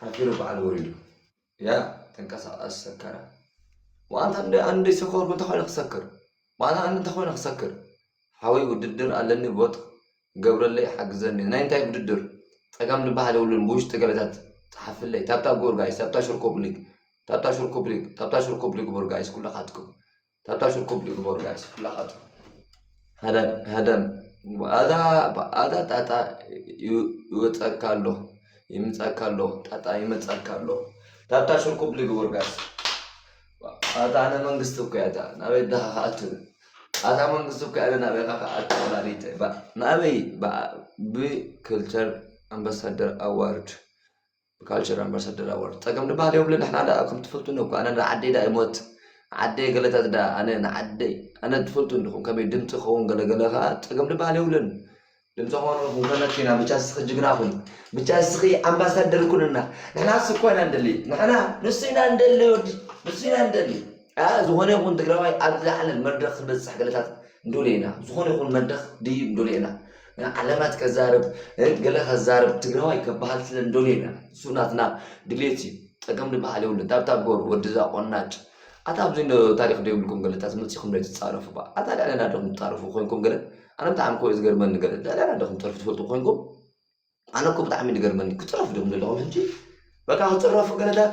ሓፊሩ በዓል ወሪዱ ያ ተንቀሳቐስ ሰከረ ዋንታ እንደ ኣንድ ሰኮርኩ እንተኾይነ ክሰክር ዋና ኣንድ እንተኾይነ ክሰክር ሓወይ ውድድር ኣለኒ ቦጥ ገብረለይ ሓግዘኒ ናይ እንታይ ውድድር ጸጋም ዝበሃል የብሉን ብውሽጢ ገበታት ጸሓፍለይ ታብታ ጎር ጋይስ ታብታ ሽር ኮፕሊክ ታብታ ሽር ኮፕሊክ ታብታ ሽር ኮፕሊክ ቦር ጋይስ ኩላኻትኩም ታጣሽ ርኩብ ዲዩ ግበሩ ጋይስ ፍላካቱ ሃዳን ሃዳን ኣዛ ኣዛ ጣጣ ይወጻካ ኣሎ ይምጻካ ኣሎ ጣጣ ይመጻካ ኣሎ ታጣሽ ርኩብ ዲዩ ግበሩ ጋይስ ኣታ ኣነ መንግስቲ እኮ እያ እታ ናበይ ዳኻ ከኣቱ ኣታ መንግስቲ እኮ እያ ናበይ ኻ ከኣቱ ወላዲተ ናበይ ብክልቸር ኣምባሳደር ኣዋርድ ካልቸር ኣምባሳደር ኣወል ጸገም ድበሃል የብሉን ንሕና ደኣ ከም ትፈልጡ እኮ ኣነ ንዓደይ ደኣ ይሞት ዓደይ ገለታት ደኣ ኣነ ንዓደይ ኣነ ትፈልጡ እንዲኹም ከመይ ድምጺ ክኸውን ገለገለ ከኣ ጸገም ድበሃል የብሉን ድምጺ ክኾንኹም ከለኪና ብቻ እስኺ ጅግና ኩን ብቻ እስኺ ኣምባሳደር ኩንና ንሕና እሱ እኮ ኢና እንደሊ ንሕና ንሱ ኢና እንደሊ ወዲ ንሱ ኢና እንደሊ ዝኾነ ይኹን ትግራዋይ ኣብ ዝለዓለ መድረኽ ክንበፅሕ ገለታት ንደልዮ ኢና ዝኾነ ይኹን መድረኽ ድዩ ንደልዮ ኢና ዓለማት ከዛርብ ገለ ከዛርብ ትግራዋይ ከበሃል ስለ ንደልዮ ኢና እሱ ናትና ድሌት እዩ ጸገም ድበሃል የብሉን ታብታብ ጎሩ ወድዛ ቆናጭ ኣታ ኣብዚ ዶ ታሪክ ዶ ይብልኩም ገለ ታስ መጺኹም ዶ ትጻረፉ ባ ኣታ ልዕለና ዶ ትጻረፉ ኮንኩም ገለ ኣነ ብጣዕሚ ኮ ዝገርመኒ ገለ ልዕለና ዶ ትጸርፉ ትፈልጡ ኮንኩም ኣነ እኮ ብጣዕሚ ዝገርመኒ ክጽረፉ ዲኹም ዘለኹም ሕጂ በቃ ክጽረፉ ገለታት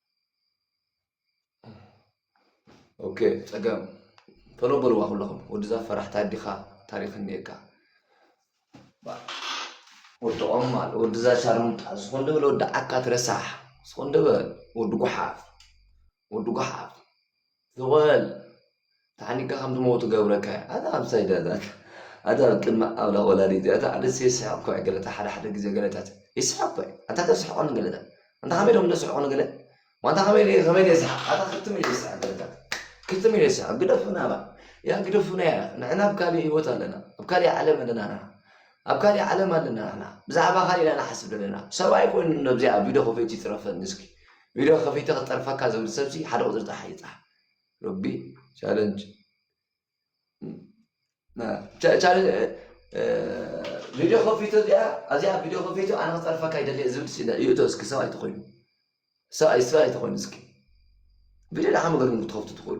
ኦኬ ፀገም ቶሎ በልዋ ኩለኹም ወድዛ ፈራሕ ታዲኻ ታሪክ እኒኤካ ወዲ ቆማል ወድዛ ሻርሙጣ ዝኾን ደበል ወዲ ዓካ ትረሳሕ ዝኾን ደበል ወዲ ጉሓፍ ወዲ ጉሓፍ ዞበል ተሓኒቅካ ከም ትመውት ገብረካ እዩ ኣታ ኣብ ሳይዳታት ኣታ ኣብ ቅድሚ ኣምላኽ ወላዲት እዩ ኣታ ኣነስ ይስሕቅ ኮይ ገለታ ሓደ ሓደ ግዜ ገለታት ይስሕቅ ኮይ ኣታ ተስሕቆ ንገለታት ኣንታ ከመይ ዶም ደስሕቆ ንገለ ዋንታ ከመይ ከመይ ደስሕቅ ኣታ ክትም ኢለ ይስሕቅ ገለታት ክትም ኢለ ይስሕቅ ግደፉና ባ ያ ግደፉና ያ ንሕና ኣብ ካሊእ ህይወት ኣለና ኣብ ካሊእ ዓለም ኣለና ንሕና ኣብ ካሊእ ዓለም ኣለና ንሕና ብዛዕባ ካሊእ ኢና ንሓስብ ዘለና ሰብኣይ ኮይኑ ነብዚኣ ቪድዮ ከፈይት ይትረፈኒ እስኪ ቪድዮ ከፊተ ክጸርፈካ ዝብል ሰብሲ ሓደ ቁጽሪ ጥራሕ ይጽሓፍ ሮቢ ቻለንጅ ቪድዮ ከፊቶ እዚኣ ኣብዚኣ ቪድዮ ከፊቶ ኣነ ክጸርፈካ ይደልየ ዝብል ይእቶ እስኪ ሰብ ኣይተኮይኑ ሰብ ኣይሰብ ኣይተኮይኑ እስኪ ቪድዮ ደሓ መገድኩም ክትከፍቱ ትኽእሉ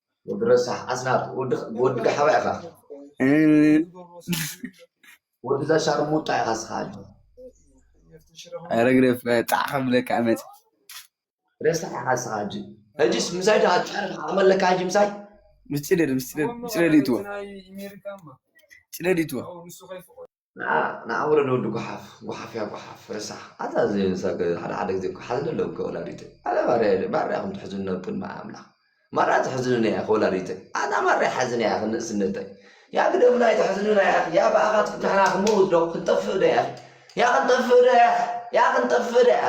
ወዲ ረሳሕ ኣስናት ወዲ ጋሓባ ኢኻ ወዲ እዛ ሻርሙጣ ኢኻ ስኻ ኣጆ ኧረ ግደፍ ጣዕ ከብለካ ኣመፅ ረሳሕ ኢኻ ስኻ ኣጆ ሕጂስ ምሳይ ዶ ኣጫርፍ ዓቕሚ ኣለካ ሕጂ ምሳይ ምስ ጭደድ ምስ ጭደድ ጭደድ ይትዎ ጭደድ ይትዎ ንዓ ንዓ ውረድ ወዲ ጓሓፍ ጓሓፍያ ጓሓፍ ረሳሕ ኣታ እዚ ሰብ ከ ሓደ ሓደ ግዜ እኮ ሓዝን ኣለዎ ከወላዲተይ ኣነ ማርያ ማርያ ከም ትሕዝኒ ኣብ ቅድሚ ኣምላኽ ማርያ ትሕዝንኒ እያ ከወላዲተይ ኣታ ማርያ ሓዝን እያ ክንእስነተይ ያ ግደምና ኣይትሕዝንና እያ ያ ብኣኻት ንሕና ክንመውት ዶ ክንጠፍእ ዶ እያ ያ ክንጠፍእ ዶ እያ ያ ክንጠፍእ ዶ እያ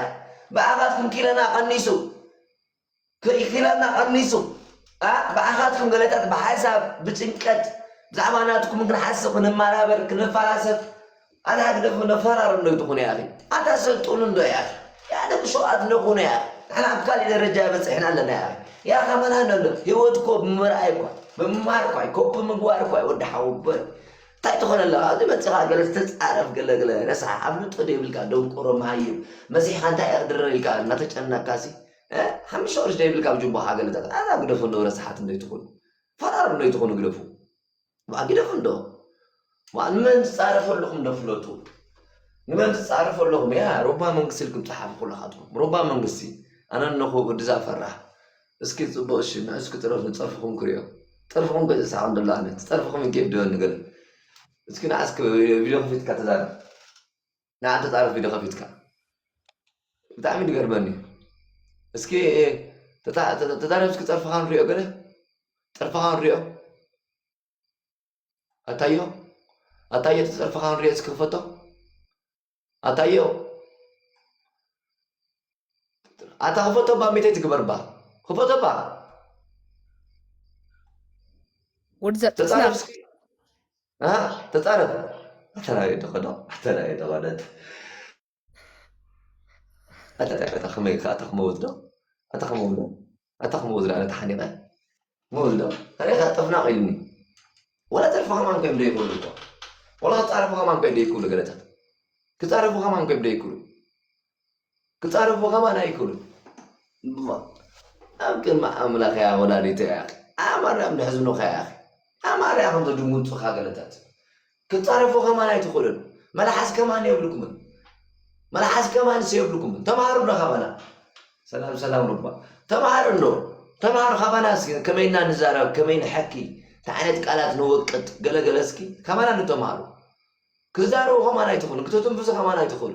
ብኣኻት ክንኪለና ቀኒሱ ከይኪላና ቀኒሱ ኣእ ብኣኻትኩም ገለታት ብሓሳብ ብጭንቀት ብዛዕባ ናትኩም ክንሓስብ ክንመራበር ክንፈላሰፍ ኣነ ኣግደፉ ነፈራርም ዶ ትኹኑ ያኺ ኣታ ሰልጡኑ ዶ ያኺ ያነ ብሸዋት ንኹኑ ያኺ ንሕና ኣብ ካሊእ ደረጃ በፂሕና ኣለና ያኺ ያኺ ኣመና ነሎ ህይወት እኮ ብምርኣይ እኳ ብምማር እኳ ኮፒ ምግባር እኳ ወዲ ሓውበል ታይ ትኾነ ኣለኻ ኣብዚ መጺኻ ገለ ትጻረፍ ገለ ገለ ረሳሕ ኣፍልጦ ዶ ይብልካ ደንቆሮ መሃይም መጺሕካ እንታይ ክድርር ኢልካ እናተጨነካሲ ሓምሽተ ቅርሺ ዶ ይብልካ ብጅቦኻ ገለታት ኣዛ ግደፉ እንዶ ረሳሓት እንዶ ይትኹኑ ፈራር እንዶ ይትኹኑ ግደፉ ዋ ግደፉ እንዶ ዋ ንመን ትጻረፍ ኣለኹም ዶ ፍለጡ ንመን ትጻረፍ ኣለኹም ያ ሮባ መንግስቲ ኢልኩም ጸሓፉ ኩላኻትኩም ሮባ መንግስቲ ኣነ እነኹ ወድዛ ፈራሕ እስኪ ጽቡቅ እሺ ንሕስኩ ጥረፉ ጸርፍኩም ክሪኦ ጸርፍኩም ከ ዝሳሓቅ እንዶ ኣሎ ኣነ ጸርፍኩም ይገድዶ እንዶ ገለ እስኪ ንሓስኩ ቪድዮ ከፊትካ ተዛረብ ንዓን ተጻረፍ ቪድዮ ከፊትካ ብጣዕሚ ዝገርመኒ እስኪ ተዛረብ እስኪ ጸርፍካ ንሪኦ ገለ ጸርፍካ ንሪኦ ኣታዮ ኣታዮ ተጸርፍካ ንሪኦ እስኪ ክፈቶ ኣታ እዮ ኣታ ክፈቶ ባ ሚተይ ትግበር ባ ክፈቶ ባ ወዲ ዘጥስና ተፃረፍ ኣተናዮ ተኸዶ ኣተናዮ ተኸደት ኣታ ከመይ ከ ኣታ ክመውት ዶ ኣታ ክመውት ዶ ኣታ ክምኡ ዝለዓለ ተሓኒቐ ምውልዶ ሬሳ ጥፍናቕ ኢሉኒ ወላ ተርፎ ከማን ኮይም ደይክብሉ እኮ ወላ ክፃረፉ ከማን ኮይ ደይክብሉ ገለታት ክፃረፉ ከማን ኮይም ደይክብሉ ክፃረፉ ከማን ኣይክብሉ ኣብ ቅድሚ ኣምላኽ እያ ወላዲተ እያ ኣማርያም ደሕዝኑኻ እያ ኣማርያ ከምዘድምፁኻ ገለታት ክትጻረፉ ከማን ኣይትኽእሉን መልሓስ ከማን የብልኩምን መልሓስ ከማንስ የብልኩምን ተማሃሩ ዶ ካባና ሰላም ሰላም ሩባ ተማሃሩ ዶ ተማሃሩ ካባናስ ከመይ እና ንዛረብ ከመይ ንሐኪ እንታይ ዓይነት ቃላት ንወቅጥ ገለገለ እስኪ ካባና ዶ ተማሃሩ ክዛረቡ ከማን ኣይትኽእሉን ክትትንፍሱ ከማን ኣይትኽእሉ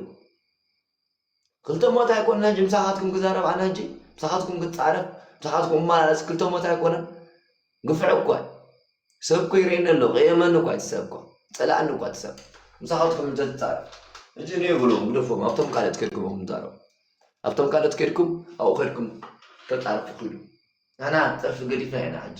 ክልተ ሞት ኣይኮነን ሕጂ ምሳኻትኩም ክዛረብ ኣነ ሕጂ ምሳኻትኩም ክጻረፍ ምሳኻትኩም እመላለስ ክልተ ሞት ኣይኮነን ግፍዕ እኳ ሰብ እኮ ይርእየኒ ኣሎ ከየመኒ እኳ እቲ ሰብ እኳ ጸላእኒ እኳ እቲ ሰብ ምሳኻትኩም እንተትጻረፍ ሕጂ እኔ ብሎም ግደፎም ኣብቶም ካልኦት ከድኩም ኹም ዛረቡ ኣብቶም ካልኦት ከድኩም ኣብኡ ከድኩም ተጻርፉ ክሉ ንሕና ጸርፊ ገዲፍና ኢና ሕጂ